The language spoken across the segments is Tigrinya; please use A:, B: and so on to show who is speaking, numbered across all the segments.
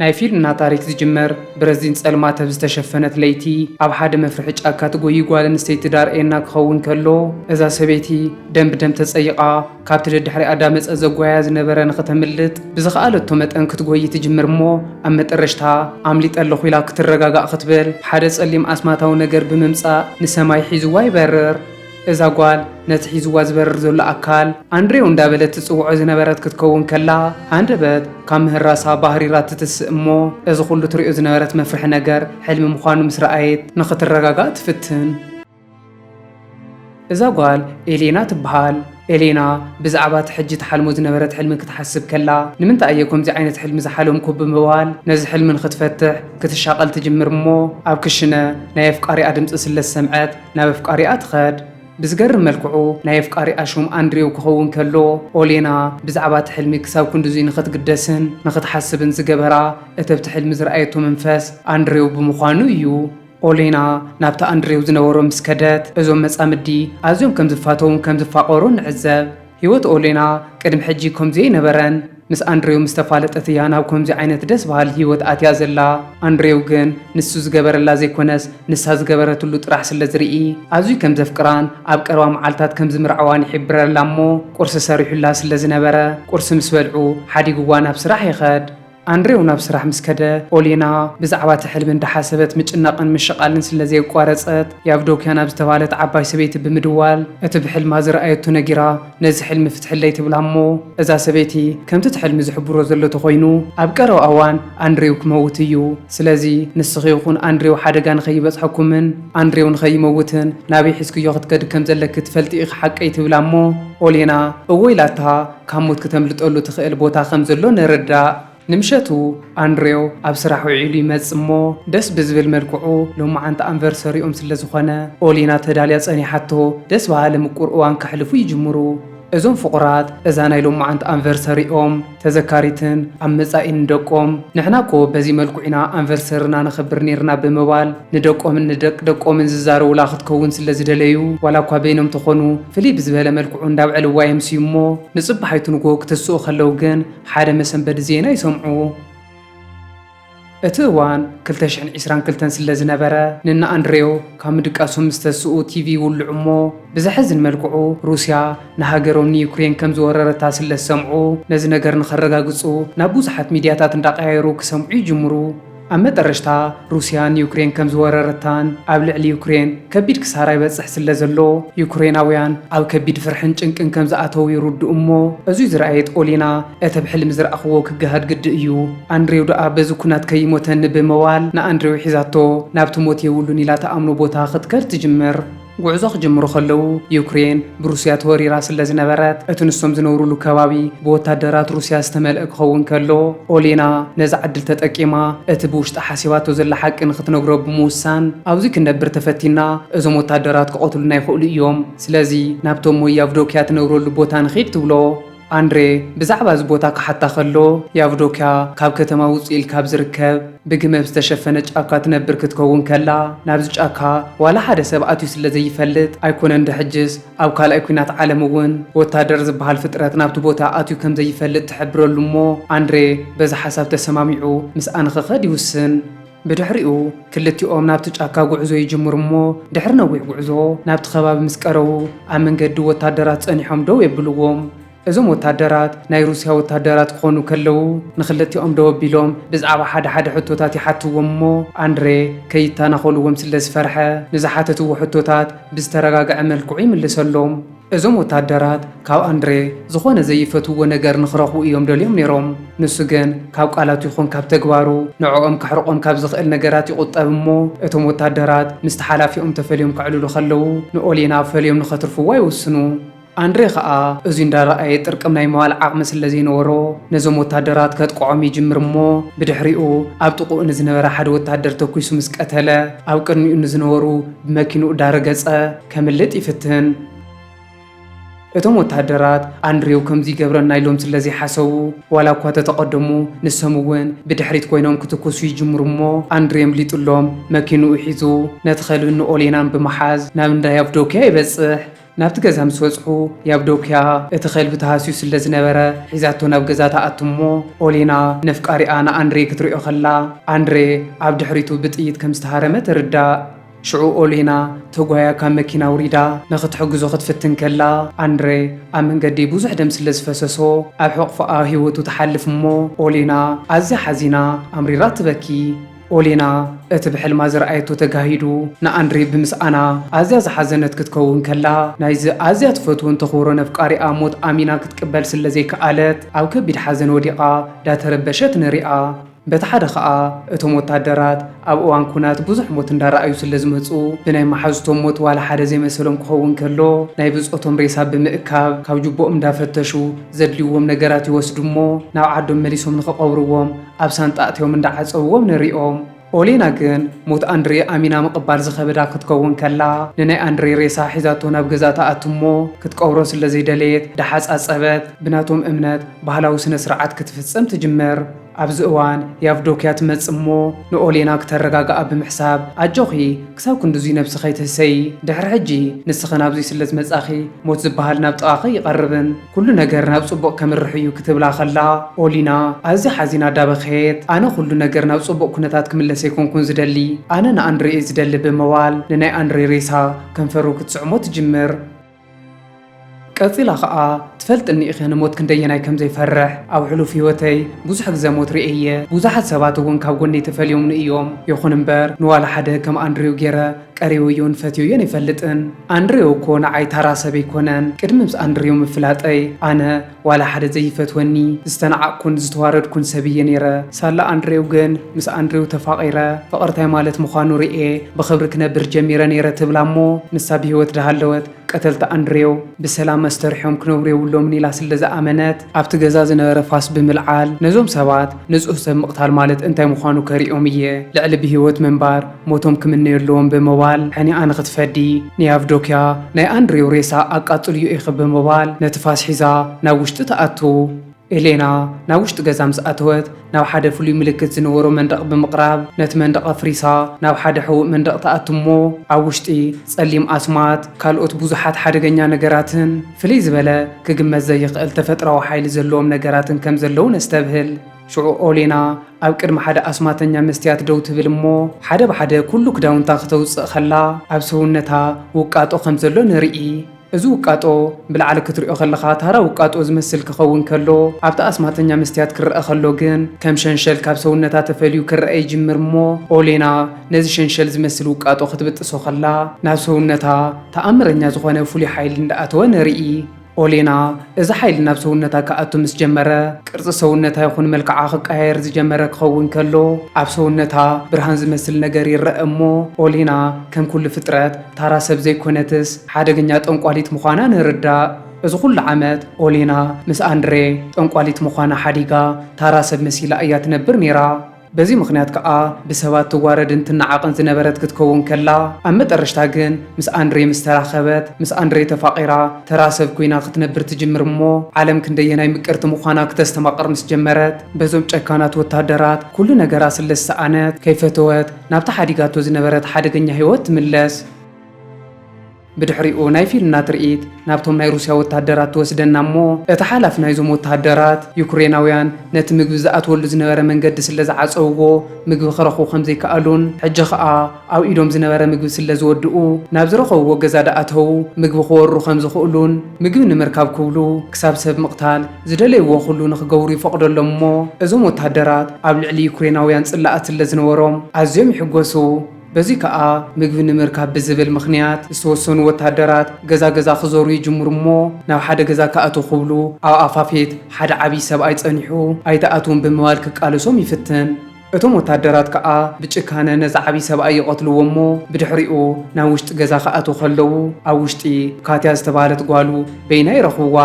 A: ናይ ፊልና ታሪክ ዝጅመር ብረዚን ጸልማት ኣብ ዝተሸፈነት ለይቲ ኣብ ሓደ መፍርሒ ጫካ ትጎዪ ጓል ኣንስተይቲ ዳርኤና ክኸውን ከሎ እዛ ሰበይቲ ደም ብደም ተጸይቓ ካብቲ ደድሕሪኣ ኣዳመጸ ዘጓያ ዝነበረ ንክተምልጥ ብዝኸኣለቶ መጠን ክትጎዪ ትጅምር እሞ ኣብ መጠረሽታ ኣምሊጠ ኣለኹ ኢላ ክትረጋጋእ ክትብል ሓደ ጸሊም ኣስማታዊ ነገር ብምምጻእ ንሰማይ ሒዝዋ ይበርር። እዛ ጓል ነቲ ሒዝዋ ዝበርር ዘሎ ኣካል ኣንድሬው እንዳበለት ትጽውዖ ዝነበረት ክትከውን ከላ፣ ሃንደበት ካብ ምህራሳ ባህሪራ ትትስእ እሞ፣ እዚ ኩሉ ትሪኦ ዝነበረት መፍርሒ ነገር ሕልሚ ምዃኑ ምስ ረኣየት ንኽትረጋጋእ ትፍትን። እዛ ጓል ኤሌና ትበሃል። ኤሌና ብዛዕባ እቲ ሕጂ ትሓልሞ ዝነበረት ሕልሚ ክትሓስብ ከላ፣ ንምንታይ እየ ከምዚ ዓይነት ሕልሚ ዝሓለምኩ ብምባል ነዚ ሕልሚ ንኽትፈትሕ ክትሻቐል ትጅምር እሞ፣ ኣብ ክሽነ ናይ ኣፍቃሪኣ ድምጺ ስለ ዝሰምዐት፣ ናብ ኣፍቃሪኣ ትኸድ። ብዝገርም መልክዑ ናይ ኣፍቃሪኣ ሹም ኣንድሬው ክኸውን ከሎ፣ ኦሌና ብዛዕባ እቲ ሕልሚ ክሳብ ክንድዙይ ንኽትግደስን ንኽትሓስብን ዝገበራ እተብቲ ሕልሚ ዝረኣየቶ መንፈስ ኣንድሬው ብምዃኑ እዩ። ኦሌና ናብቲ ኣንድሬው ዝነበሮ ምስ ከደት፣ እዞም መጻምዲ ኣዝዮም ከም ዝፋተዉን ከም ዝፋቐሩን ንዕዘብ። ሂወት ኦሌና ቅድሚ ሕጂ ከምዚ ኣይነበረን ምስ ኣንድሬው ምስ ተፋለጠት እያ ናብ ከምዚ ዓይነት ደስ በሃሊ ሂወት ኣትያ ዘላ ኣንድሬው ግን ንሱ ዝገበረላ ዘይኮነስ ንሳ ዝገበረትሉ ጥራሕ ስለ ዝርኢ ኣዝዩ ከም ዘፍቅራን ኣብ ቀረባ መዓልታት ከም ዝምርዐዋን ይሒብረላ እሞ ቁርሲ ሰሪሑላ ስለ ዝነበረ ቁርሲ ምስ በልዑ ሓዲግዋ ናብ ስራሕ ይኸድ ኣንድሬው ናብ ስራሕ ምስ ከደ፣ ኦሌና ብዛዕባ እቲ ሕልሚ እንዳሓሰበት ምጭናቕን ምሽቓልን ስለ ዘየቋረጸት፣ ያቭዶክያ ናብ ዝተባህለት ዓባይ ሰበይቲ ብምድዋል እቲ ብሕልማ ዝረኣየቶ ነጊራ፣ ነዚ ሕልሚ ፍትሕለይ ትብላ እሞ፣ እዛ ሰበይቲ ከምቲ እቲ ሕልሚ ዝሕብሮ ዘሎ ተኾይኑ ኣብ ቀረባ እዋን ኣንድሬው ክመውት እዩ። ስለዚ ንስኺ ይኹን ኣንድሬው ሓደጋ ንኸይበጽሐኩምን ኣንድሬው ንኸይመውትን ናበይ ሒዝክዮ ክትከዲ ከም ዘለኪ ትፈልጢ ኢኺ ሓቀይ ትብላ እሞ፣ ኦሌና እወ ኢላታ፣ ካብ ሞት ክተምልጠሉ ትኽእል ቦታ ከም ዘሎ ንርዳእ። ንምሸቱ ኣንድሬው ኣብ ስራሕ ውዒሉ ይመጽእ እሞ ደስ ብዝብል መልክዑ ሎምዓንቲ ኣንቨርሰሪኦም ስለ ዝኾነ ኦሊና ተዳልያ ጸኒሓቶ ደስ በሃሊ ምቁር እዋን ከሕልፉ ይጅምሩ። እዞም ፍቑራት እዛ ናይ ሎምዓንቲ ኣንቨርሰሪኦም ተዘካሪትን ኣብ መጻኢ ንደቆም ንሕና እኮ በዚ መልክዑ ኢና ኣንቨርሰሪና ነኽብር ኔርና ብምባል ንደቆምን ንደቂ ደቆምን ዝዛረቡላ ክትከውን ስለ ዝደለዩ ዋላ እኳ በይኖም ተኾኑ ፍልይ ብዝበለ መልክዑ እንዳብዐልዋ የምስዩ እሞ ንጽባሒቱ ንግሆ ክትስኡ ከለው ግን ሓደ መሰንበዲ ዜና ይሰምዑ። እቲ እዋን ክልተ ሽሕን ዒስራን ክልተን ስለዝነበረ ንእነኣንድሬው ካብ ምድቃሶም ምስተስኡ ቲቪ ይውልዑ እሞ ብዘሕዝን መልክዑ ሩስያ ንሃገሮም ንዩክሬን ከምዝወረረታ ስለዝሰምዑ ነዚ ነገር ንኸረጋግጹ ናብ ብዙሓት ሚድያታት እንዳቐያየሩ ክሰምዑ ይጅምሩ። ኣብ መጠረሽታ ሩስያ ንዩክሬን ከም ዝወረረታን ኣብ ልዕሊ ዩክሬን ከቢድ ክሳራ ይበጽሕ ስለ ዘሎ ዩክሬናውያን ኣብ ከቢድ ፍርሕን ጭንቅን ከም ዝኣተዉ ይርድኡ እሞ እዙይ ዝረኣየት ኦሊና እቲ ብ ሕልሚ ዝረኣኽዎ ክገሃድ ግዲ እዩ ኣንድሬው ደኣ በዚ ኩናት ከይሞተኒ ብምባል ንኣንድሬው ሒዛቶ ናብቲ ሞት የብሉን ኢላ ትኣምኖ ቦታ ክትከድ ትጅምር። ጉዕዞ ክጅምሩ ከለዉ ዩክሬን ብሩስያ ተወሪራ ስለዝነበረት እቲ ንሶም ዝነብሩሉ ከባቢ ብወታደራት ሩስያ ዝተመልአ ክኸውን ከሎ ኦሌና ነዛ ዕድል ተጠቂማ እቲ ብውሽጣ ሓሲባቶ ዘላ ሓቂ ንክትነግሮ ብምውሳን ኣብዚ ክንነብር ተፈቲና እዞም ወታደራት ክቐትሉና ይኽእሉ እዮም ስለዚ ናብቶም ሞይ ያቭዶክያ ትነብረሉ ቦታ ንኺድ ትብሎ። ኣንድሬ ብዛዕባ እዚ ቦታ ክሓታ ከሎ፣ ያቭዶክያ ካብ ከተማ ውጽእ ኢልካ ኣብ ዝርከብ ብግመ ብ ዝተሸፈነ ጫካ ትነብር ክትከውን ከላ፣ ናብዚ ጫካ ዋላ ሓደ ሰብ ኣትዩ ስለ ዘይፈልጥ፣ ኣይኮነን ዶ ሕጅስ ኣብ ካልኣይ ኲናት ዓለም እውን ወታደር ዝበሃል ፍጥረት ናብቲ ቦታ ኣትዩ ከም ዘይፈልጥ ትሕብረሉ እሞ ኣንድሬ በዚ ሓሳብ ተሰማሚዑ ምስኣ ንኽኸድ ይውስን። ብድሕሪኡ ክልቲኦም ናብቲ ጫካ ጉዕዞ ይጅምሩ እሞ ድሕሪ ነዊሕ ጉዕዞ ናብቲ ከባቢ ምስ ቀረቡ ኣብ መንገዲ ወታደራት ጸኒሖም ደው የብልዎም። እዞም ወታደራት ናይ ሩስያ ወታደራት ክኾኑ ከለዉ ንክልቲኦም ደው ኣቢሎም ብዛዕባ ሓደ ሓደ ሕቶታት ይሓትዎም እሞ ኣንድሬ ከይታናኾልዎም ስለዝፈርሐ ንዝሓተትዎ ሕቶታት ብዝተረጋግዐ መልክዑ ይምልሰሎም። እዞም ወተሃደራት ካብ ኣንድሬ ዝኾነ ዘይፈትውዎ ነገር ንኽረኽቡ እዮም ደልዮም ነይሮም። ንሱ ግን ካብ ቃላቱ ይኹን ካብ ተግባሩ ንዕኦም ከሕርቖም ካብ ዝኽእል ነገራት ይቑጠብ እሞ እቶም ወተሃደራት ምስቲ ሓላፊኦም ተፈልዮም ከዕልሉ ከለዉ ንኦሌና ፈልዮም ንኸትርፍዋ ይውስኑ። ኣንድሬ ኸኣ እዙይ እንዳረኣየ ጥርቅም ናይ ምባል ዓቕሚ ስለ ዘይነበሮ ነዞም ወተሃደራት ከጥቅዖም ይጅምር እሞ ብድሕሪኡ ኣብ ጥቕኡ ንዝነበረ ሓደ ወተሃደር ተኲሱ ምስ ቀተለ ኣብ ቅድሚኡ ንዝነበሩ ብመኪንኡ ዳረገጸ። ከምልጥ ይፍትን። እቶም ወተሃደራት ኣንድሬው ከምዚ ይገብረና ኢሎም ስለ ዘይሓሰቡ፣ ዋላ እኳ ተተቐደሙ ንሶም እውን ብድሕሪት ኮይኖም ክትኩሱ ይጅምሩ እሞ ኣንድሬ ኣምሊጡሎም መኪንኡ ሒዙ ነቲ ከልብን ንኦሌናን ብምሓዝ ናብ እንዳ ያቭዶክያ ይበጽሕ። ናብቲ ገዛ ምስ በጽሑ ያቭዶክያ እቲ ከልቢ ተሃስዩ ስለ ዝነበረ ሒዛቶ ናብ ገዛ ትኣቱ እሞ ኦሌና ነፍቃሪኣ ንኣንድሬ ክትሪኦ ከላ ኣንድሬ ኣብ ድሕሪቱ ብጥይት ከም ዝተሃረመ ትርዳእ። ሽዑ ኦሌና ተጓያ ካብ መኪና ኣውሪዳ ንኽትሕግዞ ክትፍትን ከላ፣ ኣንድረ ኣብ መንገዲ ብዙሕ ደም ስለ ዝፈሰሶ ኣብ ሕቑፎኣ ህይወቱ ትሓልፍ እሞ ኦሌና ኣዝያ ሓዚና ኣምሪራ ትበኪ። ኦሌና እቲ ብሕልማ ዝረኣየቶ ተጋሂዱ ንኣንድሬ ብምስኣና ኣዝያ ዝሓዘነት ክትከውን ከላ፣ ናይዚ ኣዝያ ትፈትዎን ተኽብሮን ኣፍቃሪኣ ሞት ኣሚና ክትቅበል ስለ ዘይከኣለት ኣብ ከቢድ ሓዘን ወዲቓ ዳተረበሸት ንሪኣ። በቲ ሓደ ከኣ እቶም ወታደራት ኣብ እዋን ኩናት ብዙሕ ሞት እንዳረኣዩ ስለ ዝመጹ ብናይ መሓዙቶም ሞት ዋላ ሓደ ዘይመሰሎም ክኸውን ከሎ ናይ ብጾቶም ሬሳ ብምእካብ ካብ ጁቦኦም እንዳፈተሹ ዘድልይዎም ነገራት ይወስዱ እሞ ናብ ዓዶም መሊሶም ንኽቐብርዎም ኣብ ሳንጣ ኣእትዮም እንዳዓጸብዎም ንሪኦም። ኦሌና ግን ሞት ኣንድሬ ኣሚና ምቕባል ዝኸበዳ ክትከውን ከላ ንናይ ኣንድሬ ሬሳ ሒዛቶ ናብ ገዛ ትኣቱ እሞ ክትቀብሮ ስለ ዘይደለየት ዳሓጻጸበት ብናቶም እምነት ባህላዊ ስነ-ስርዓት ክትፍጽም ትጅምር። ኣብዚ እዋን ያቭዶክያ ትመጽእ እሞ ንኦሌና ክተረጋግኣ ብምሕሳብ፣ ኣጆኺ ክሳብ ክንድዙይ ነብሲ ከይትህሰዪ፣ ድሕሪ ሕጂ ንስኺ ናብዙይ ስለ ዝመጻኺ ሞት ዝበሃል ናብ ጥቓኺ ኣይቐርብን፣ ኩሉ ነገር ናብ ጽቡቕ ከምርሕ እዩ ክትብላ ከላ ኦሊና ኣዝያ ሓዚና ዳበኸየት። ኣነ ኩሉ ነገር ናብ ጽቡቕ ኩነታት ክምለስ ኣይኮንኩን ዝደሊ፣ ኣነ ንኣንድሬ እየ ዝደሊ ብምባል ንናይ ኣንድሬ ሬሳ ከንፈሩ ክትስዕሞ ትጅምር። ቀጺላ ከኣ ትፈልጥኒ ኢኺ ንሞት ክንደየናይ ከም ዘይፈርሕ ኣብ ሕሉፍ ህይወተይ ብዙሕ ግዘ ሞት ርእየ እየ ብዙሓት ሰባት እውን ካብ ጎነይ ተፈልዮምኒ እዮም ይኹን እምበር ንዋላ ሓደ ከም ኣንድሬው ጌረ ቀሪወዮን ፈትየዮን ኣይፈልጥን ኣንድሬው እኮ ንዓይ ታራ ሰብ ኣይኮነን ቅድሚ ምስ ኣንድሬው ምፍላጠይ ኣነ ዋላ ሓደ ዘይፈትወኒ ዝተናዓቅኩን ዝተዋረድኩን ሰብ እየ ነይረ ሳላ ኣንድሬው ግን ምስ ኣንድሬው ተፋቂረ ፍቅሪ ታይ ማለት ምኳኑ ሪኤ ብክብሪ ክነብር ጀሚረ ነይረ ትብላ እሞ ንሳ ብሂወት ዳሃለወት ቀተልቲ ኣንድሬው ብሰላም ኣስተርሕዮም ክነብሩ የብሎምን ኢላ ስለ ዝኣመነት ኣብቲ ገዛ ዝነበረ ፋስ ብምልዓል ነዞም ሰባት ንፁህ ሰብ ምቅታል ማለት እንታይ ምኳኑ ከሪኦም እየ ልዕሊ ብሂወት ምንባር ሞቶም ክምነዩ ኣለዎም ብምባል ሕኒኣ ንኽትፈዲ ንያቭዶክያ ናይ ኣንድሬው ሬሳ ኣቃጽልዮ ኢኺ ብምባል ነቲ ፋስ ሒዛ ናብ ውሽጢ ትኣቱ። ኤሌና ናብ ውሽጢ ገዛ ምስ ኣተወት ናብ ሓደ ፍሉይ ምልክት ዝነበሮ መንደቕ ብምቕራብ ነቲ መንደቕ ኣፍሪሳ ናብ ሓደ ሕቡእ መንደቕ ትኣቱ እሞ ኣብ ውሽጢ ጸሊም ኣስማት ካልኦት ብዙሓት ሓደገኛ ነገራትን ፍልይ ዝበለ ክግመት ዘይኽእል ተፈጥራዊ ሓይሊ ዘለዎም ነገራትን ከም ዘለዉ ነስተብህል። ሽዑ ኦሌና ኣብ ቅድሚ ሓደ ኣስማተኛ መስትያት ደው ትብል እሞ ሓደ ብሓደ ኩሉ ክዳውንታ ክተውጽእ ከላ ኣብ ሰውነታ ውቃጦ ከም ዘሎ ንርኢ። እዚ ውቃጦ ብላዕሊ ክትሪኦ ከለኻ ታራ ውቃጦ ዝመስል ክኸውን ከሎ ኣብቲ ኣስማተኛ መስትያት ክረኣ ከሎ ግን ከም ሸንሸል ካብ ሰውነታ ተፈልዩ ክረኣ ይጅምር እሞ ኦሌና ነዚ ሸንሸል ዝመስል ውቃጦ ክትብጥሶ ከላ ናብ ሰውነታ ተኣምረኛ ዝኾነ ፍሉይ ሓይሊ እንዳኣተወ ንርኢ። ኦሌና፣ እዚ ሓይሊ ናብ ሰውነታ ክኣቱ ምስ ጀመረ፣ ቅርጺ ሰውነታ ይኹን መልክዓ ክቀያየር ዝጀመረ ክኸውን ከሎ፣ ኣብ ሰውነታ ብርሃን ዝመስል ነገር ይረኣ እሞ፣ ኦሌና ከም ኩሉ ፍጥረት ታራ ሰብ ዘይኮነትስ ሓደገኛ ጠንቋሊት ምዃና ንርዳእ። እዚ ኩሉ ዓመት ኦሌና ምስ ኣንድሬ ጠንቋሊት ምዃና ሓዲጋ ታራ ሰብ መሲላ እያ ትነብር ኔራ። በዚ ምኽንያት ከኣ ብሰባት ትዋረድን ትነዓቕን ዝነበረት ክትከውን ከላ፣ ኣብ መጠረሽታ ግን ምስ ኣንድሬ ምስ ተራኸበት፣ ምስ ኣንድሬ ተፋቒራ ተራ ሰብ ኩይና ክትነብር ትጅምር እሞ ዓለም ክንደየናይ ምቅርቲ ምዃና ክተስተማቕር ምስ ጀመረት፣ በዞም ጨካናት ወተሃደራት ኩሉ ነገራ ስለ ዝሰኣነት፣ ከይፈተወት ናብታ ሓዲጋቶ ዝነበረት ሓደገኛ ህይወት ትምለስ። ብድሕሪኡ ናይ ፊልና ትርኢት ናብቶም ናይ ሩስያ ወተሃደራት ትወስደና እሞ እቲ ሓላፊ ናይዞም ወተሃደራት ዩክሬናውያን ነቲ ምግቢ ዝኣትወሉ ዝነበረ መንገዲ ስለ ዝዓጸውዎ ምግቢ ክረኽቡ ከም ዘይከኣሉን ሕጂ ከኣ ኣብ ኢዶም ዝነበረ ምግቢ ስለ ዝወድኡ ናብ ዝረኸብዎ ገዛ ዳኣተው ምግቢ ክወሩ ከም ዝኽእሉን ምግቢ ንምርካብ ክብሉ ክሳብ ሰብ ምቕታል ዝደለይዎ ኩሉ ንኽገብሩ ይፈቕደሎም እሞ እዞም ወተሃደራት ኣብ ልዕሊ ዩክሬናውያን ጽላኣት ስለ ዝነበሮም ኣዝዮም ይሕጎሱ። በዚ ከኣ ምግቢ ንምርካብ ብዝብል ምኽንያት ዝተወሰኑ ወተሃደራት ገዛ ገዛ ክዞሩ ይጅምሩ እሞ ናብ ሓደ ገዛ ክኣትው ክብሉ ኣብ ኣፋፌት ሓደ ዓብይ ሰብኣይ ጸኒሑ ኣይትኣትውን ብምባል ክቃለሶም ይፍትን። እቶም ወተሃደራት ከኣ ብጭካነ ነዚ ዓብይ ሰብኣይ ይቐትልዎ እሞ ብድሕሪኡ ናብ ውሽጢ ገዛ ክኣትው ከለው ኣብ ውሽጢ ካትያ ዝተባህለት ጓሉ በይና ይረኽብዋ።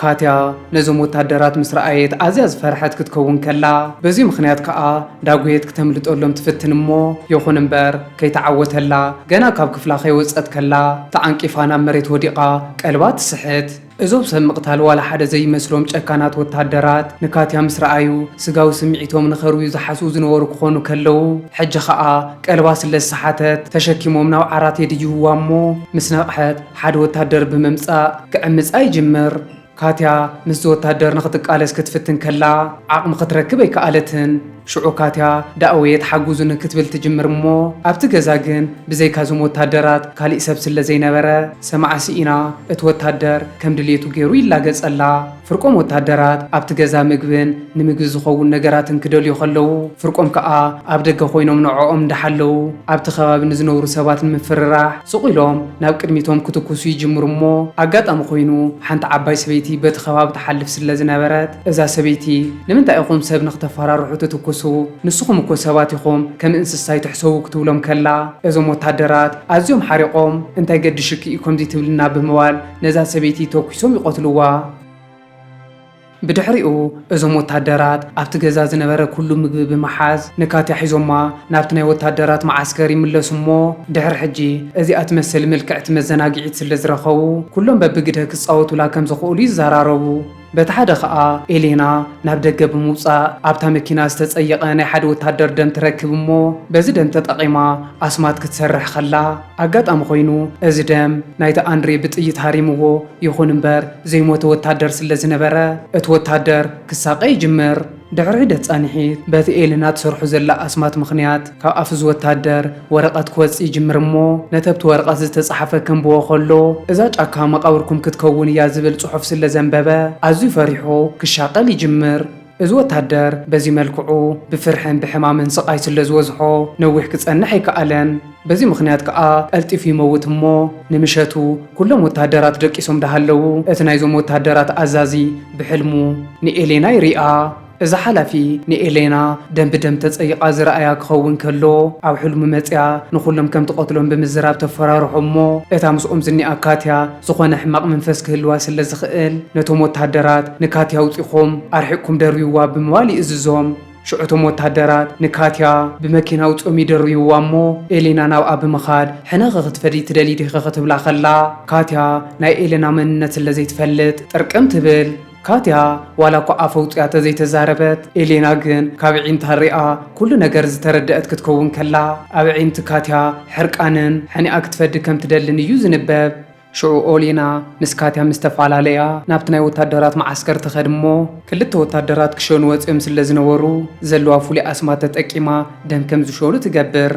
A: ካትያ ነዞም ወታደራት ምስ ረኣየት ኣዝያ ዝፈርሐት ክትከውን ከላ፣ በዚ ምኽንያት ከኣ ዳጉየት ክተምልጠሎም ትፍትን እሞ ይኹን እምበር ከይተዓወተላ ገና ካብ ክፍላ ከይወጸት ከላ ተዓንቂፋ ናብ መሬት ወዲቓ ቀልባ ትስሕት። እዞም ሰብ ምቕታል ዋላ ሓደ ዘይመስሎም ጨካናት ወታደራት ንካትያ ምስ ረኣዩ ስጋዊ ስምዒቶም ንኸርውዩ ዝሓስቡ ዝነበሩ ክኾኑ ከለው ሕጂ ከኣ ቀልባ ስለ ዝሰሓተት ተሸኪሞም ናብ ዓራት የድይብዋ እሞ ምስ ነቕሐት ሓደ ወታደር ብምምጻእ ክዕምጻ ይጅምር። ካትያ ምስዚ ወታደር ንኽትቃለስ ክትፍትን ከላ ዓቕሚ ክትረክብ ኣይከኣለትን። ሽዑ ካትያ ዳኣወየት ሓጉዙኒ ክትብል ትጅምር እሞ ኣብቲ ገዛ ግን ብዘይካ እዞም ወታደራት ካሊእ ሰብ ስለዘይነበረ ሰማዓ ሲኢና እቲ ወታደር ከም ድልየቱ ገይሩ ይላገጸላ። ፍርቆም ወተሃደራት ኣብቲ ገዛ ምግብን ንምግቢ ዝኸውን ነገራትን ክደልዩ ከለዉ፣ ፍርቆም ከኣ ኣብ ደገ ኮይኖም ንዕኦም እንዳሓለዉ ኣብቲ ከባቢ ንዝነብሩ ሰባት ንምፍርራሕ ሱቕ ኢሎም ናብ ቅድሚቶም ክትኩሱ ይጅምሩ እሞ ኣጋጣሚ ኮይኑ ሓንቲ ዓባይ ሰበይቲ በቲ ከባቢ ትሓልፍ ስለዝነበረት እዛ ሰበይቲ ንምንታይ ኢኹም ሰብ ንክተፈራርሑ ትትኩሱ ንስኹም እኮ ሰባት ኢኹም ከም እንስሳ ኣይትሕሰቡ ክትብሎም ከላ እዞም ወተሃደራት ኣዝዮም ሓሪቖም እንታይ ገድሽኪ እዩ ከምዚ ትብልና ብምባል ነዛ ሰበይቲ ተኲሶም ይቐትልዋ። ብድሕሪኡ እዞም ወታደራት ኣብቲ ገዛ ዝነበረ ኩሉ ምግቢ ብምሓዝ ንካትያ ሒዞማ ናብቲ ናይ ወታደራት መዓስከር ይምለሱ እሞ ድሕሪ ሕጂ እዚኣ ትመሰል ምልክዕቲ መዘናግዒት ስለ ዝረኸቡ ኩሎም በብግደ ክጻወቱላ ከም ዝኽእሉ ይዘራረቡ። በቲ ሓደ ከኣ ኤሌና ናብ ደገ ብምውጻእ ኣብታ መኪና ዝተጸየቐ ናይ ሓደ ወታደር ደም ትረክብ እሞ በዚ ደም ተጠቒማ ኣስማት ክትሰርሕ ከላ ኣጋጣሚ ኮይኑ እዚ ደም ናይቲ ኣንድሬ ብጥይት ሃሪምዎ ይኹን እምበር ዘይሞተ ወታደር ስለዝነበረ እቲ ወታደር ክሳቐ ይጅምር። ድሕሪ ሒደት ጻንሒት፣ በቲ ኤለና ትሰርሖ ዘላ ኣስማት ምኽንያት፣ ካብ ኣፍ'ዚ ወተሃደር ወረቐት ክወጽእ ይጅምር እሞ፣ ነቲ ኣብቲ ወረቐት ዝተጻሓፈ ከንብቦ ከሎ፣ እዛ ጫካ መቓብርኩም ክትከውን እያ ዝብል ጽሑፍ ስለ ዘንበበ፣ ኣዝዩ ፈሪሑ ክሻቐል ይጅምር። እዚ ወተሃደር በዚ መልክዑ ብፍርሕን ብሕማምን ስቓይ ስለ ዝበዝሖ፣ ነዊሕ ክጸንሕ ኣይከኣለን። በዚ ምኽንያት ከኣ ቀልጢፉ ይመውት እሞ ንምሸቱ ኩሎም ወተሃደራት ደቂሶም ዳሃለዉ እቲ ናይዞም ወተሃደራት ኣዛዚ ብሕልሙ ንኤሌና ይሪኣ። እዛ ሓላፊ ንኤሌና ደም ብደም ተጸይቓ ዝረኣያ ክኸውን ከሎ ኣብ ሕልሙ መጺኣ ንኹሎም ከም ትቐትሎም ብምዝራብ ተፈራርሖም እሞ እታ ምስኦም ዝኒኣ ካትያ ዝኾነ ሕማቕ መንፈስ ክህልዋ ስለ ዝኽእል ነቶም ወተሃደራት ንካትያ ኣውጺኹም ኣርሒቕኩም ደርብይዋ ብምባል ይእዝዞም። ሽዑ እቶም ወተሃደራት ንካትያ ብመኪና ኣውጺኦም ይድርብይዋ እሞ ኤሌና ናብኣ ብምኻድ ሕነኺ ክትፈድዪ ትደልዪ ዲኺ ክትብላ ከላ ካትያ ናይ ኤሌና መንነት ስለ ዘይትፈልጥ ጥርቅም ትብል። ካትያ ዋላ እኳ ኣፍ ኣውጺኣ ተዘይተዛረበት ኤሌና ግን ካብ ኣዒንታ ሪኣ ኩሉ ነገር ዝተረደኣት ክትከውን ከላ ኣብ ኣዒንቲ ካትያ ሕርቃንን ሕኒኣ ክትፈዲ ከም ትደልን እዩ ዝንበብ። ሽዑ ኦሌና፣ ንስካትያ ምስ ተፋላለያ፣ ናብቲ ናይ ወታደራት መዓስከር ትኸድ እሞ፣ ክልተ ወታደራት ክሸኑ ወጺኦም ስለ ዝነበሩ፣ ዘለዋ ፍሉይ ኣስማት ተጠቂማ ደም ከም ዝሸኑ ትገብር።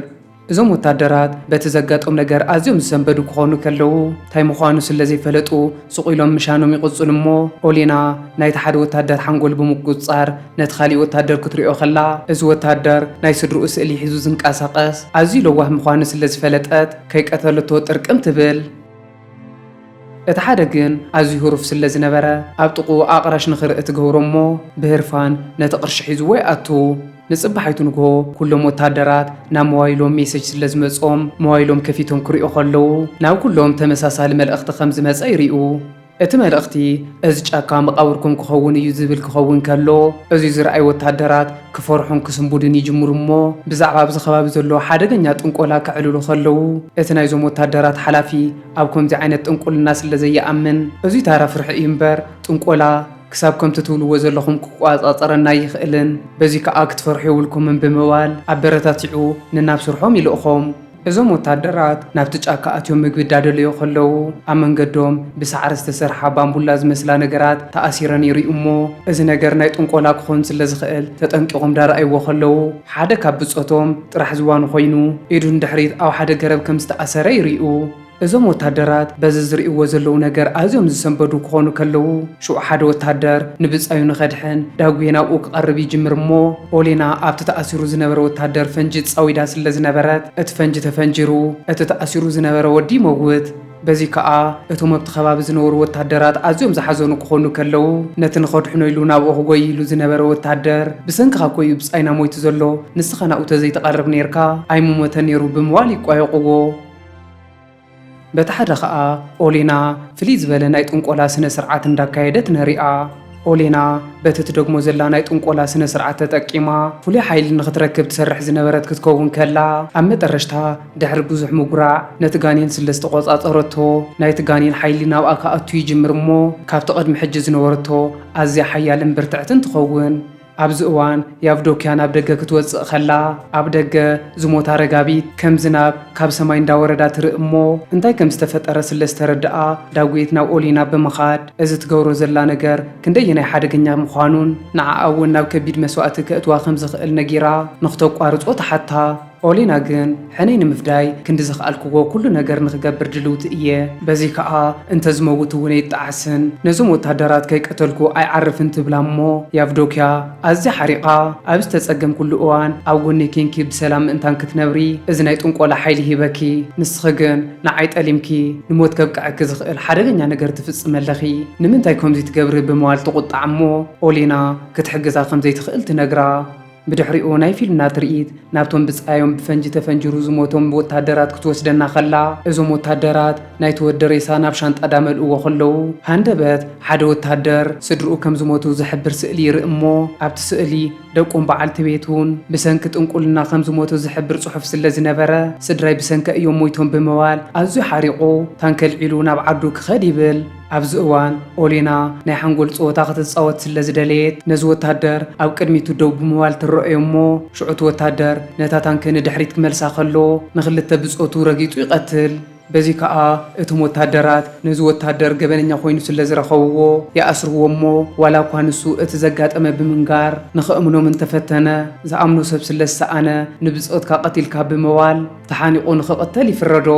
A: እዞም ወታደራት፣ በቲ ዘጋጦም ነገር ኣዝዮም ዝሰንበዱ ክኾኑ ከለዉ፣ ታይ ምዃኑ ስለ ዘይፈለጡ ሱቕ ኢሎም ምሻኖም ይቕጽሉ እሞ፣ ኦሌና፣ ናይቲ ሓደ ወታደር ሓንጎል ብምቁጽጻር፣ ነቲ ካሊእ ወታደር ክትሪኦ ከላ፣ እዚ ወታደር፣ ናይ ስድርኡ ስእሊ ሒዙ ዝንቀሳቐስ፣ ኣዝዩ ለዋህ ምዃኑ ስለ ዝፈለጠት፣ ከይቀተልቶ ጥርቅም ትብል። እቲ ሓደ ግን ኣዝዩ ህሩፍ ስለ ዝነበረ ኣብ ጥቕኡ ኣቕራሽ ንኽርኢ ትገብሮ እሞ ብህርፋን ነቲ ቅርሺ ሒዝዎ ይኣቱ። ንጽባሒቱ ንግሆ ኩሎም ወተሃደራት ናብ ሞባይሎም ሜሰጅ ስለ ዝመጾም ሞባይሎም ከፊቶም ክሪኡ ከለዉ ናብ ኩሎም ተመሳሳሊ መልእኽቲ ከም ዝመጸ ይሪኡ። እቲ መልእኽቲ እዚ ጫካ መቓብርኩም ክኸውን እዩ ዝብል ክኸውን ከሎ፣ እዚ ዝርኣዩ ወተሃደራት ክፈርሑን ክስንቡዱን ይጅምሩ እሞ ብዛዕባ ኣብዚ ከባቢ ዘሎ ሓደገኛ ጥንቆላ ከዕልሉ ከለዉ፣ እቲ ናይዞም ወተሃደራት ሓላፊ ኣብ ከምዚ ዓይነት ጥንቁልና ስለ ዘይኣምን፣ እዚ ታራ ፍርሒ እዩ እምበር ጥንቆላ ክሳብ ከምቲ ትብልዎ ዘለኹም ክቆጻጸረና ኣይኽእልን፣ በዚ ከኣ ክትፈርሑ የብልኩምን ብምባል ኣበረታቲዑ ነናብ ስርሖም ይልእኾም። እዞም ወተሃደራት ናብቲ ጫካ ኣትዮም ምግቢ እዳደለዩ ከለዉ፣ ኣብ መንገዶም ብሳዕሪ ዝተሰርሓ ባምቡላ ዝመስላ ነገራት ተኣሲረን ይሪኡ እሞ፣ እዚ ነገር ናይ ጥንቆላ ክኾን ስለ ዝኽእል ተጠንቂቖም እዳረኣይዎ ከለዉ፣ ሓደ ካብ ብጾቶም ጥራሕ ዝዋኑ ኮይኑ ኢዱ ንድሕሪት ኣብ ሓደ ገረብ ከም ዝተኣሰረ ይሪኡ። እዞም ወታደራት በዚ ዝርእይዎ ዘለዉ ነገር ኣዝዮም ዝሰንበዱ ክኾኑ ከለዉ፣ ሽዑ ሓደ ወታደር ንብጻዩ ንኸድሕን ዳጉየ ናብኡ ክቐርብ ይጅምር እሞ፣ ኦሌና ኣብቲ ተኣሲሩ ዝነበረ ወታደር ፈንጂ ጻዊዳ ስለ ዝነበረት እቲ ፈንጂ ተፈንጂሩ እቲ ተኣሲሩ ዝነበረ ወዲ ይመውት። በዚ ከኣ እቶም ኣብቲ ከባቢ ዝነበሩ ወታደራት ኣዝዮም ዝሓዘኑ ክኾኑ ከለዉ፣ ነቲ ንኸድሕኖ ኢሉ ናብኡ ክጎይ ኢሉ ዝነበረ ወታደር ብሰንክኻ እኮ'ዩ ብጻይና ሞይቱ ዘሎ፣ ንስኻ ናብኡ ተዘይትቐርብ ኔርካ ኣይምሞተን ኔሩ ብምባል ይቋየቑዎ። በቲ ሓደ ኸኣ ኦሌና ፍልይ ዝበለ ናይ ጥንቆላ ስነ ስርዓት እንዳካየደት ንሪኣ። ኦሌና በቲ ትደግሞ ዘላ ናይ ጥንቆላ ስነ ስርዓት ተጠቂማ ፍሉይ ሓይሊ ንኽትረክብ ትሰርሕ ዝነበረት ክትከውን ከላ ኣብ መጠረሽታ ድሕሪ ብዙሕ ምጉራዕ ነቲ ጋኔን ስለ ዝተቖጻጸረቶ ናይቲ ጋኔን ሓይሊ ናብኣ ክኣቱ ይጅምር እሞ ካብቲ ቅድሚ ሕጂ ዝነበረቶ ኣዝያ ሓያልን ብርትዕትን ትኸውን። ኣብዚ እዋን ያቭዶክያ ናብ ደገ ክትወጽእ ከላ፣ ኣብ ደገ ዝሞታ ረጋቢት ከም ዝናብ ካብ ሰማይ እንዳወረዳ ትርኢ እሞ፣ እንታይ ከም ዝተፈጠረ ስለ ዝተረድኣ፣ ዳጉኤት ናብ ኦሊና ብምኻድ እዚ ትገብሮ ዘላ ነገር ክንደየናይ ሓደገኛ ምዃኑን ንዓኣ እውን ናብ ከቢድ መስዋእቲ ከእትዋ ከም ዝኽእል ነጊራ ንክተቋርጾ ትሓታ። ኦሊና ግን ሕነይ ንምፍዳይ ክንዲ ዝኸኣልክዎ ኩሉ ነገር ንክገብር ድልውቲ እየ። በዚ ከኣ እንተ ዝመውት እውን ኣይጣዓስን፣ ነዞም ወታደራት ከይቀተልኩ ኣይዓርፍን ትብላ እሞ ያቭዶክያ ኣዝያ ሓሪቓ ኣብ ዝተጸገምክሉ እዋን ኣብ ጎነይ ኴንኪ ብሰላም ምእንታን ክትነብሪ እዚ ናይ ጥንቆላ ሓይሊ ሂበኪ። ንስኺ ግን ንዓይ ጠሊምኪ ንሞት ከብቅዐኪ ዝኽእል ሓደገኛ ነገር ትፍጽሚ ኣለኺ። ንምንታይ ከምዚ ትገብሪ ብምባል ትቑጣዕ እሞ ኦሊና ክትሕግዛ ከም ዘይትኽእል ትነግራ። ብድሕሪኡ ናይ ፊልምና ትርኢት ናብቶም ብጻዮም ብፈንጂ ተፈንጅሩ ዝሞቶም ወታደራት ክትወስደና ከላ፣ እዞም ወታደራት ናይቲ ወዲ ሬሳ ናብ ሻንጣ ዳመልእዎ ከለዉ፣ ሃንደበት ሓደ ወታደር ስድርኡ ከም ዝሞቱ ዝሕብር ስእሊ ይርኢ እሞ፣ ኣብቲ ስእሊ ደቁን በዓልቲ ቤቱን ብሰንኪ ጥንቁልና ከም ዝሞቱ ዝሕብር ጽሑፍ ስለ ዝነበረ፣ ስድራይ ብሰንከ እዮም ሞይቶም ብምባል ኣዝዩ ሓሪቑ ታንኪ ኣልዒሉ ናብ ዓዱ ክኸድ ይብል። ኣብዚ እዋን ኦሌና ናይ ሓንጎል ጸወታ ክትጻወት ስለ ዝደለየት ነዚ ወተሃደር ኣብ ቅድሚቱ ደው ብምባል ትረኣዮ እሞ ሽዑ እቲ ወተሃደር ነታ ታንኪ ንድሕሪት ክመልሳ ከሎ ንኽልተ ብጾቱ ረጊጹ ይቐትል። በዚ ከኣ እቶም ወተሃደራት ነዚ ወተሃደር ገበነኛ ኮይኑ ስለ ዝረኸብዎ ይኣስርዎ እሞ ዋላ እኳ ንሱ እቲ ዘጋጠመ ብምንጋር ንኽእምኖም እንተፈተነ ዝኣምኖ ሰብ ስለ ዝሰኣነ ንብጾትካ ቀቲልካ ብምባል ተሓኒቑ ንኽቕተል ይፍረዶ።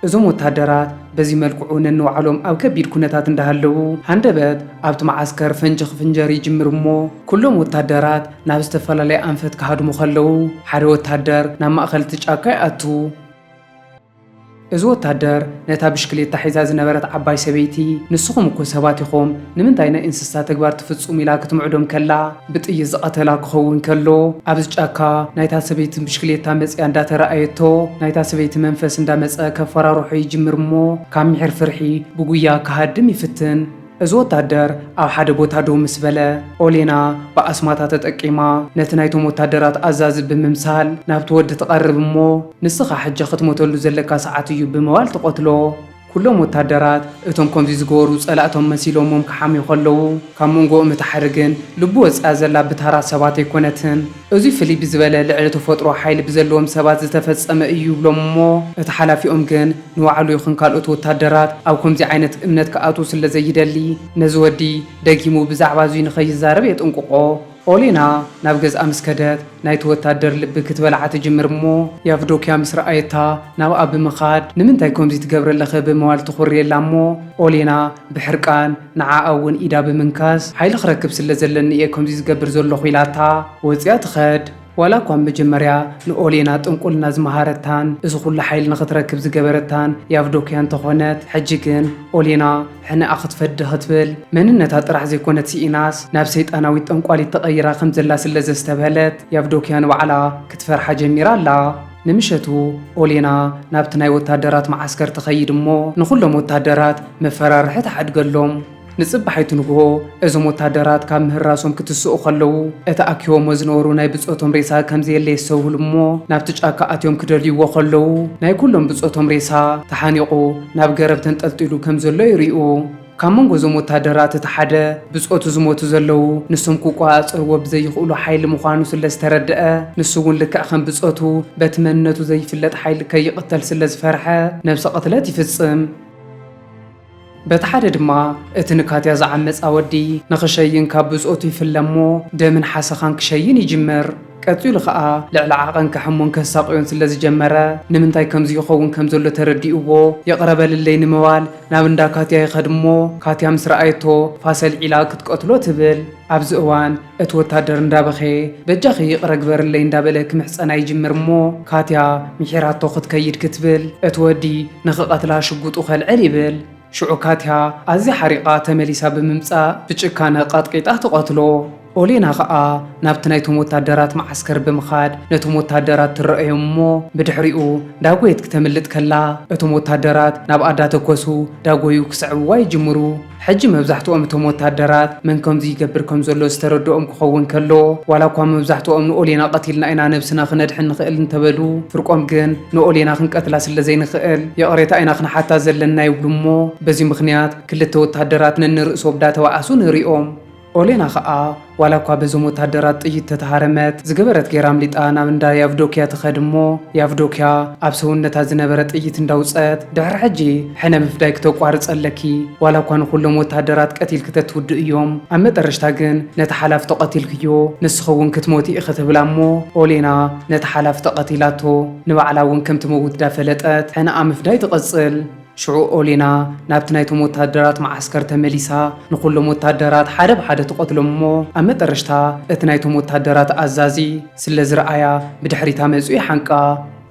A: እዞም ወተሃደራት በዚ መልክዑ ነንባዕሎም ኣብ ከቢድ ኩነታት እንዳሃለዉ፣ ሃንደበት ኣብቲ መዓስከር ፈንጂ ክፍንጀር ይጅምር እሞ ኩሎም ወተሃደራት ናብ ዝተፈላለየ ኣንፈት ክሃድሙ ከለዉ፣ ሓደ ወተሃደር ናብ ማእከል እቲ ጫካ ይኣቱ። እዚ ወተሃደር ነታ ብሽክሌታ ሒዛ ዝነበረት ዓባይ ሰበይቲ፣ ንስኹም እኮ ሰባት ኢኹም፣ ንምንታይ ናይ እንስሳ ተግባር ትፍጽሙ ኢላ ክትምዕዶም ከላ፣ ብጥይት ዝቐተላ ክኸውን ከሎ ኣብዚ ጫካ ናይታ ሰበይቲ ብሽክሌታ መፂኣ እንዳተረኣየቶ ናይታ ሰበይቲ መንፈስ እንዳመፀ ከፈራርሖ ይጅምር እሞ ካብ ምሒር ፍርሒ ብጉያ ክሃድም ይፍትን። እዚ ወታደር ኣብ ሓደ ቦታ ደው ምስ በለ ኦሌና ብኣስማታ ተጠቂማ ነቲ ናይቶም ወታደራት ኣዛዚ ብምምሳል ናብቲ ወዲ ትቐርብ እሞ ንስኻ ሕጂ ክትሞተሉ ዘለካ ሰዓት እዩ ብምባል ትቐትሎ። ኩሎም ወታደራት እቶም ከምዚ ዝገበሩ ጸላእቶም መሲሎምዎም ክሓምዩ ከለዉ፣ ካብ መንጎኦም እታ ሓደ ግን ልቡ ወጺኣ ዘላ ብታራ ሰባት ኣይኮነትን። እዙይ ፍልይ ብዝበለ ልዕሊ ተፈጥሮ ሓይሊ ብዘለዎም ሰባት ዝተፈጸመ እዩ ይብሎም እሞ እቲ ሓላፊኦም ግን ንባዕሉ ይኹን ካልኦት ወታደራት ኣብ ከምዚ ዓይነት እምነት ክኣትዉ ስለዘይደሊ ነዚ ወዲ ደጊሙ ብዛዕባ እዙይ ንኸይዛረብ የጥንቅቖ። ኦሌና ናብ ገዝኣ ምስ ከደት፣ ናይቲ ወታደር ልቢ ክትበልዓ ትጅምር እሞ፣ ያቭዶክያ ምስ ረኣየታ ናብኣ ብምኻድ፣ ንምንታይ ኮምዚ ትገብሪ ኣለኺ ብምባል ተኹርየላ እሞ፣ ኦሌና ብሕርቃን ንዓኣ እውን ኢዳ ብምንካስ፣ ሓይሊ ክረክብ ስለ ዘለኒ እየ ኮምዚ ዝገብር ዘለኹ ኢላታ ወጺኣ ትኸድ። ዋላ እኳ መጀመርያ ንኦሌና ጥንቁልና ዝመሃረታን እዚ ኩሉ ሓይሊ ንኽትረክብ ዝገበረታን ያቭዶክያ እንተኾነት፣ ሕጂ ግን ኦሌና ሕነኣ ክትፈዲ ክትብል መንነታ ጥራሕ ዘይኮነት ስኢናስ ናብ ሰይጣናዊት ጠንቋሊት ተቐይራ ከምዘላ ስለዘስተብሀለት ያቭዶክያ ንባዕላ ክትፈርሓ ጀሚራ ኣላ። ንምሸቱ ኦሌና ናብቲ ናይ ወታደራት መዓስከር ትኸይድ እሞ ንኹሎም ወታደራት መፈራርሒ ትሓድገሎም። ንጽባሒቱ ንግሆ እዞም ወታደራት ካብ ምህራሶም ክትስኡ ከለዉ እቲ ኣኪቦሞ ዝነበሩ ናይ ብጾቶም ሬሳ ከምዘየለ የስተውህሉ እሞ ናብቲ ጫካ ኣትዮም ክደልዩዎ ከለዉ ናይ ኩሎም ብጾቶም ሬሳ ተሓኒቑ ናብ ገረብ ተንጠልጢሉ ከምዘሎ ይሪኡ። ካብ መንጎ እዞም ወታደራት እቲ ሓደ ብጾቱ ዝሞቱ ዘለዉ ንሶም ክቆጻጸርዎ ብዘይኽእሉ ሓይሊ ምዃኑ ስለዝተረደኣ ንሱ'ውን ልክዕ ከም ብጾቱ በቲ መንነቱ ዘይፍለጥ ሓይሊ ከይቕተል ስለዝፈርሐ ነብሰ ቅትለት ይፍጽም። በቲ ሓደ ድማ እቲ ንካትያ ዝዓመጻ ወዲ ንኽሸይን ካብ ብጾቱ ይፍለ እሞ ደምን ሓሰኻን ክሸይን ይጅምር። ቀጺሉ ከኣ ልዕሊ ዓቐን ከሕሙን ከሳቕዮን ስለ ዝጀመረ ንምንታይ ከምዚ ይኸውን ከም ዘሎ ተረዲኡዎ ይቕረ በልለይ ንምባል ናብ እንዳ ካትያ ይኸድ እሞ ካትያ ምስ ረኣየቶ ፋሰልዒላ ክትቀትሎ ትብል። ኣብዚ እዋን እቲ ወታደር እንዳበኸየ በጃኺ ይቕረ ግበርለይ እንዳበለ ክምሕጸና ይጅምር እሞ ካትያ ምሒራቶ ክትከይድ ክትብል እቲ ወዲ ንኽቐትላ ሽጉጡ ከልዕል ይብል ሽዑ ካትያ ኣዝያ ሓሪቓ ተመሊሳ ብምምጻእ ብጭካነ ቐጥቒጣ ትቐትሎ ኦሌና ኸኣ ናብቲ ናይቶም ወታደራት መዓስከር ብምኻድ ነቶም ወታደራት ትረኣዮም እሞ ብድሕሪኡ ዳጎየት ክተምልጥ ከላ እቶም ወታደራት ናብኣ ዳተኮሱ ዳጎዩ ክስዕብዋ ይጅምሩ ሕጂ መብዛሕትኦም እቶም ወተሃደራት መን ከምዚ ይገብር ከም ዘሎ ዝተረድኦም ክኸውን ከሎ፣ ዋላ እኳ መብዛሕትኦም ንኦሌና ቀቲልና ኢና ነብስና ክነድሕን ንኽእል እንተበሉ፣ ፍርቆም ግን ንኦሌና ክንቀትላ ስለ ዘይንኽእል ይቕሬታ ኢና ክንሓታ ዘለና ይብሉ እሞ በዚ ምኽንያት ክልተ ወተሃደራት ነንርእሶብ ዳተባኣሱ ንሪኦም። ኦሌና ከኣ ዋላ እኳ በዞም ወተሃደራት ጥይት ተተሃረመት፣ ዝገበረት ገይራ ኣምሊጣ ናብ እንዳ ያቭዶክያ ትኸድ እሞ፣ ያቭዶክያ ኣብ ሰውነታ ዝነበረ ጥይት እንዳውጸት፣ ድሕሪ ሕጂ ሕነ ምፍዳይኪ ተቋርጸ ኣለኪ፣ ዋላ እኳ ንኹሎም ወተሃደራት ቀቲልኪ ተትውድእ እዮም፣ ኣብ መጠረሽታ ግን ነቲ ሓላፊ ተቐቲልክዮ፣ ንስኺ እውን ክትሞቲ ኢኺ ትብላ እሞ፣ ኦሌና ነቲ ሓላፊ ተቐቲላቶ፣ ንባዕላ እውን ከም ትመውት ዳፈለጠት ሕነኣ ምፍዳይ ትቕጽል። ሽዑ ኦሌና ናብቲ ናይቶም ወተሃደራት መዓስከር ተመሊሳ ንኹሎም ወተሃደራት ሓደ ብሓደ ትቐትሎም እሞ ኣብ መጠረሽታ እቲ ናይቶም ወተሃደራት ኣዛዚ ስለ ዝረኣያ ብድሕሪታ መጹ ይሓንቃ።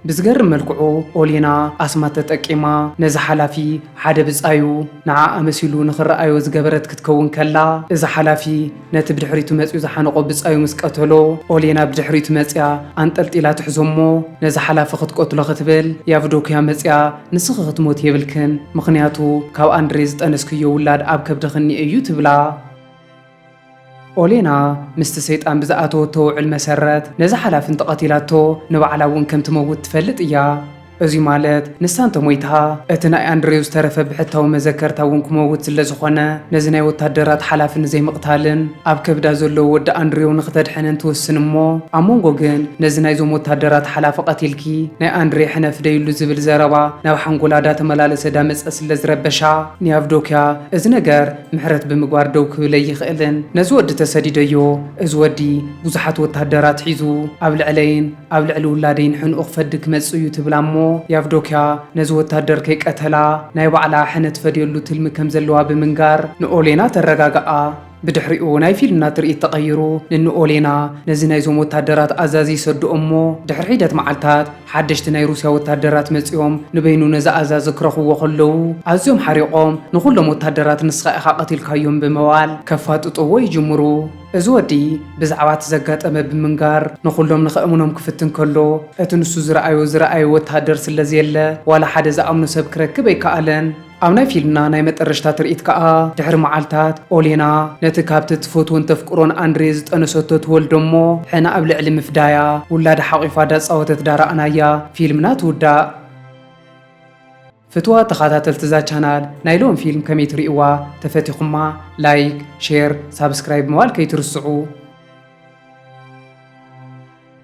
A: ብዝገርም መልክዑ ኦሌና ኣስማት ተጠቂማ ነዚ ሓላፊ ሓደ ብጻዩ ንዓኣ መሲሉ ንኽረኣዮ ዝገበረት ክትከውን ከላ እዚ ሓላፊ ነቲ ብድሕሪቱ መጺኡ ዝሓነቖ ብጻዩ ምስ ቀተሎ፣ ኦሌና ብድሕሪቱ መጺኣ ኣንጠልጢላ ትሕዞ'ሞ፣ ነዚ ሓላፊ ክትቀትሎ ክትብል ያቭዶክያ መጺኣ፣ ንስኺ ክትሞቲ የብልክን፣ ምኽንያቱ ካብ ኣንድሬ ዝጠነስክዮ ውላድ ኣብ ከብድኺ እኒኤ'ዩ ትብላ። ኦሌና ምስቲ ሰይጣን ብዝኣተወቶ ውዕል መሰረት፣ ነዚ ሓላፊ እንተቐቲላቶ ንባዕላ'ውን ከም ትመውት ትፈልጥ እያ። እዚ ማለት ንሳ እንተ ሞይታ፣ እቲ ናይ ኣንድሬው ዝተረፈ ብሕታዊ መዘከርታ እውን ክመውት ስለ ዝኾነ፣ ነዚ ናይ ወታደራት ሓላፊ ንዘይምቕታልን ኣብ ከብዳ ዘሎ ወዲ ኣንድሬው ንክተድሕንን ትውስን እሞ ኣብ መንጎ ግን ነዚ ናይዞም ወታደራት ሓላፊ ቀቲልኪ ናይ ኣንድሬ ሕነ ፍደይሉ ዝብል ዘረባ ናብ ሓንጎላ ዳተመላለሰ ዳመጸ ስለ ዝረበሻ ንያቭዶክያ እዚ ነገር ምሕረት ብምግባር ደው ክብል ኣይኽእልን። ነዚ ወዲ ተሰዲደዮ፣ እዚ ወዲ ብዙሓት ወታደራት ሒዙ ኣብ ልዕለይን፣ ኣብ ልዕሊ ውላደይ ንሕንኡ ክፈዲ ክመጽእ እዩ ትብላ እሞ ያቭዶክያ ነዚ ወታደር ከይቀተላ ናይ ባዕላ ሕነ ትፈድየሉ ትልሚ ከም ዘለዋ ብምንጋር ንኦሌና ተረጋግኣ። ብድሕሪኡ ናይ ፊልምና ትርኢት ተቐይሩ ንንኦሌና ነዚ ናይዞም ወታደራት ኣዛዚ ይሰድኦ እሞ ድሕሪ ሒደት መዓልታት ሓደሽቲ ናይ ሩስያ ወታደራት መጺኦም ንበይኑ ነዚ ኣዛዚ ክረኽብዎ ከለዉ ኣዝዮም ሓሪቖም ንኹሎም ወታደራት ንስኻ ኢኻ ቀቲልካዮም ብምባል ከፋጥጥዎ ይጅምሩ። እዚ ወዲ ብዛዕባ እቲ ዘጋጠመ ብምንጋር ንኹሎም ንኸእምኖም ክፍትን ከሎ፣ እቲ ንሱ ዝረኣዮ ዝረኣየ ወተሃደር ስለዘየለ ዋላ ሓደ ዝኣምኖ ሰብ ክረክብ ኣይከኣለን። ኣብ ናይ ፊልምና ናይ መጠረሽታ ትርኢት ከኣ ድሕሪ መዓልታት ኦሌና ነቲ ካብቲ እትፈትዎን ተፍቅሮን ኣንድሬ ዝጠነሰቶ ትወልዶ እሞ ሕነ ኣብ ልዕሊ ምፍዳያ ውላዳ ሓቒፋ ዳጻወተት ዳረኣናያ ፊልምና ትውዳእ። ፍትዋት ተኻታተልቲ እዛ ቻናል ናይ ሎም ፊልም ከመይ ትሪእዋ ተፈቲኹማ ላይክ ሼር ሳብስክራይብ ምባል ከይትርስዑ።